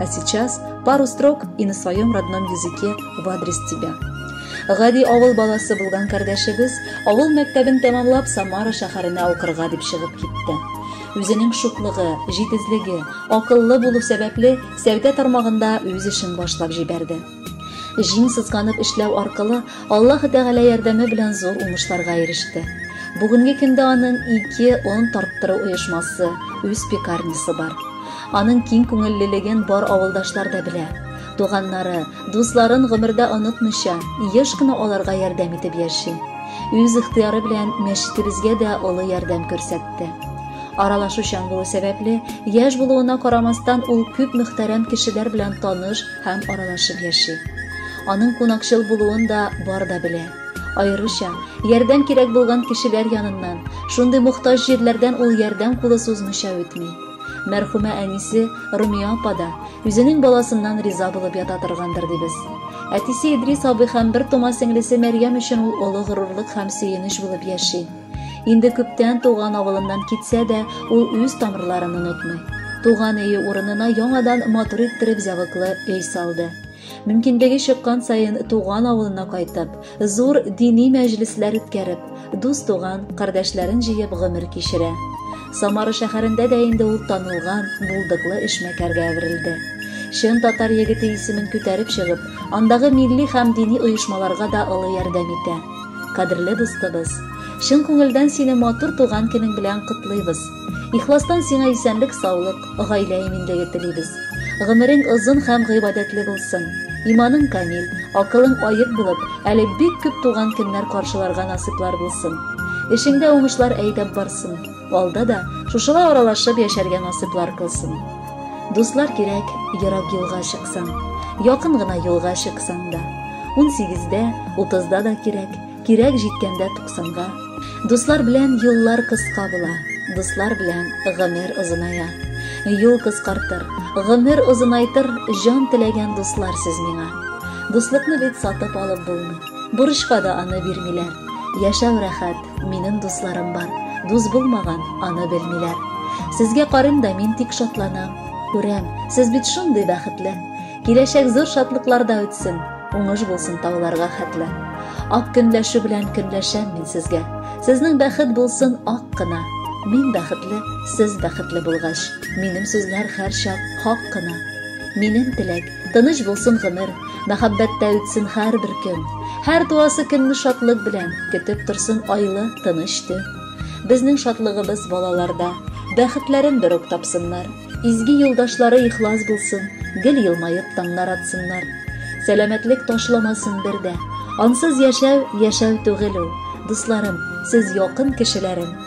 А сейчас пару строк и на своем родном языке в адрес тебя. Гади авыл баласы булган кардәшебез авыл мәктәбен тәмамлап Самара шәһәренә укырга дип чыгып китте. Үзенең шуклыгы, җитезлеге, акыллы булу сәбәпле сәүдә тармагында үз эшен башлап җибәрде. Җиң сызганып эшләү аркылы Аллаһы Тәгалә ярдәме белән зур уңышларга иреште. Бүгенге көндә аның ике он тарттыру оешмасы, үз пекарнясы бар. Аның киң күңеллелеген бар авылдашлар да белә. Туганнары, дусларын гомердә онытмыйча, еш кына аларга ярдәм итеп яши. Үз ихтыяры белән мәчетебезгә дә олы ярдәм күрсәтте. Аралашучан булу сәбәпле, яшь булуына карамастан, ул күп мөхтәрәм кешеләр белән таныш, һәм аралашып яши. Аның кунакчыл булуын да бар да белә. Аеруча, ярдәм кирәк булган кешеләр яныннан, шундый мохтаҗ җирләрдән ул ярдәм кулы сузмыйча үтми. Мәрхүмә әнисе Румия апа да үзенең баласыннан риза булып ята торгандыр дибез. Әтисе Идрис абый һәм бер тома сеңлесе Мәрьям өчен ул олы горурлык һәм сөенеч булып яши. Инде күптән туган авылыннан китсә дә, ул үз тамырларын онытмый. Туган өе урынына яңадан матур иттереп зәвыклы өй салды. Мөмкинлеге чыккан саен туган авылына кайтып, зур дини мәҗлесләр үткәреп, дус туган, кардәшләрен җыеп гомер кичерә. Самара шәһәрендә дә инде ул танылган, булдыклы эшмәкәргә әверелде. Чын татар егете исемен күтәреп чыгып, андагы милли һәм дини оешмаларга да олы ярдәм итә. Кадерле дустыбыз, чын күңелдән сине матур туган көнең белән котлыйбыз. Ихластан сиңа исәнлек, саулык, гаилә иминлеге телибез. Гомерең озын һәм гыйбадәтле булсын. Иманың камил, акылың аек булып, әле бик күп туган көннәр каршыларга насыйплар булсын. Эшеңдә уңышлар әйдәп барсын. Алда да шушылай аралашып яшәргә насыйплар кылсын. Дуслар кирәк, ерак юлга чыксаң, якын гына юлга чыксаң да. 18-дә, 30-да да кирәк, кирәк җиткәндә 90-га. Дуслар белән юллар кыска була, дуслар белән гомер озыная. Юл кыскартыр, гомер озынайтыр, җан теләгән дуслар сез миңа. Дуслыкны бит сатып алып булмый. Бурычка да аны бирмиләр. Яшәү рәхәт, минем дусларым бар. Дус булмаган, аны белмиләр. Сезгә карыйм да мин тик шатланам. Күрәм, сез бит шундый бәхетле. Киләчәк зур шатлыкларда үтсен. Уңыш булсын тауларга хәтле. Ак көнләшү белән көнләшәм мин сезгә. Сезнең бәхет булсын ак кына. Мин бәхетле, сез бәхетле булгач. Минем сүзләр һәрчак хак кына. Минем теләк, Тыныч булсын гомер, мәхәббәттә үтсен һәрбер көн. Һәр туасы көнне шатлык белән, көтеп торсын айлы, тыныч төн. Безнең шатлыгыбыз балаларда, бәхетләрен бер үк тапсыннар. Изге юлдашлары ихлас булсын, гел елмаеп таңнар атсыннар. Сәламәтлек ташламасын бер дә. Ансыз яшәү, яшәү түгел ул. Дусларым, сез якын кешеләрем.